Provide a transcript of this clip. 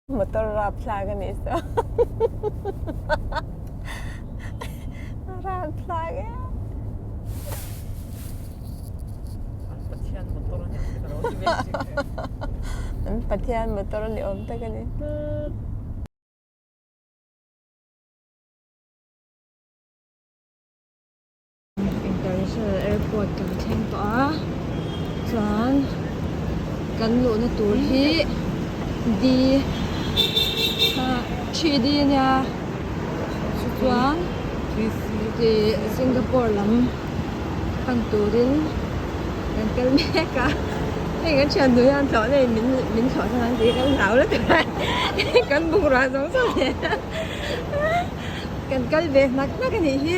motor rap thlai ka nih se rap thlai e an pathian motor ni awm tak a ni international airport kan thleng tawh a chuan kan luhna tur hi d three d a nia chuan singapore lam Hman turin kan kal mek a, hei kan thiannuia an tlawh nei min min tlawh chuan an tih kan zau la tur a kan bungrua zawng zawng nen a kan kal ve hmak hmak a nih hi.